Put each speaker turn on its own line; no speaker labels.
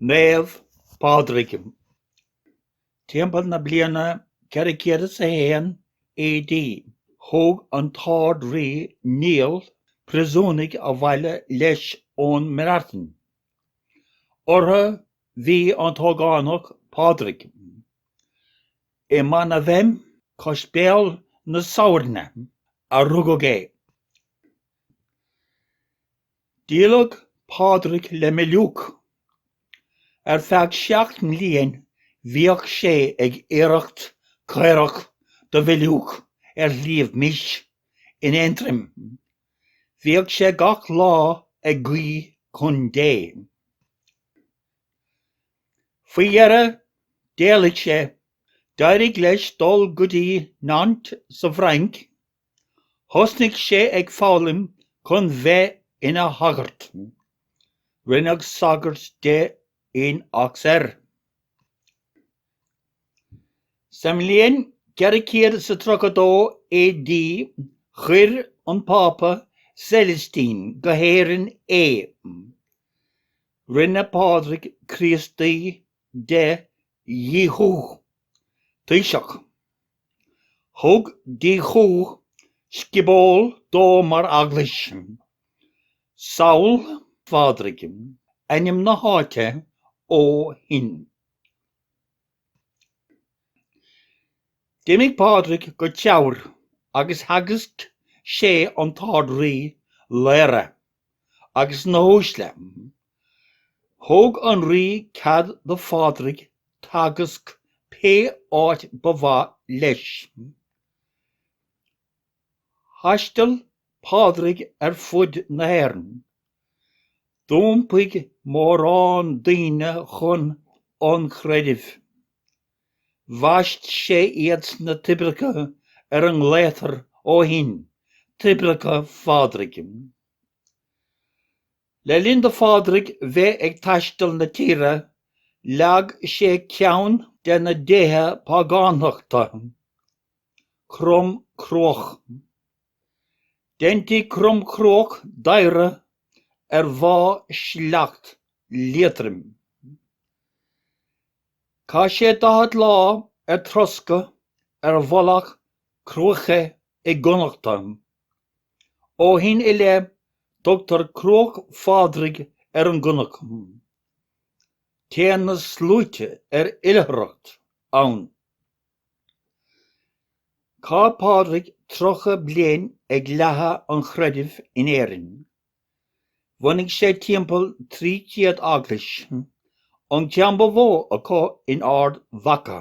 Naomh Pádraig. Timpeall na bliana 401 AD, thóg an tArd-Rí Niall priosúnaigh abhaile leis ón mBreatain. Orthu bhí an t-ógánach Pádraig. I Manavem, cois Béal na Sabhairne, a rugadh é. Díoladh Pádraig le Miliúc. Ar feadh seacht mbliain bhíodh sé ag aoireacht caorach do Mhiliúc ar Shliabh Mis in Aontroim. Bhíodh sé gach lá ag guí chun Dé. Faoi dheireadh d'éalaigh sé, d'éirigh leis dul go dtí Nantes sa bhFrainc Thosnaigh sé ag foghlaim chun bheith ina shagart. Rinneadh sagart de in Auxerre. Sa mbliain 432 AD chuir an Pápa Celestine go hÉirinn é. Rinne Pádraig Críostaí de Dhíchú, taoiseach. Thug Díchú scioból dó mar eaglais, Sabhall Phádraig, ainm na háite ó shin. D'imigh Pádraig go Teamhair agus theagasc sé an tArd-Rí, Laoghaire, agus na huaisle. Thug an rí cead do Phádraig teagasc pé áit ba mhaith leis. Thaisteal Pádraig ar fud na hÉireann. D'iompaigh mórán daoine chun an chreidimh. Bhaist sé iad sna toibreacha ar a nglaoitear ó shin Toibreacha Phádraig. Le linn do Phádraig bheith ag taisteal na tíre, leag sé ceann de na déithe págánachta, Crom Cruach. Deintí Crom Cruach d'adhradh ar Mhá Sleacht, Liatroim. Chaith sé daichead lá ar troscadh ar mhullach Cruaiche i gConnachta. Ó shin i leith, tugtar Cruach Phádraig ar an gcnoc. Téann na sluaite ar oilithreacht ann. Chaith Pádraig 30 bliain ag leathadh an chreidimh in Éirinn. Bhunaigh sé timpeall 300 eaglais, an ceann ba mhó acu in Ard Mhacha.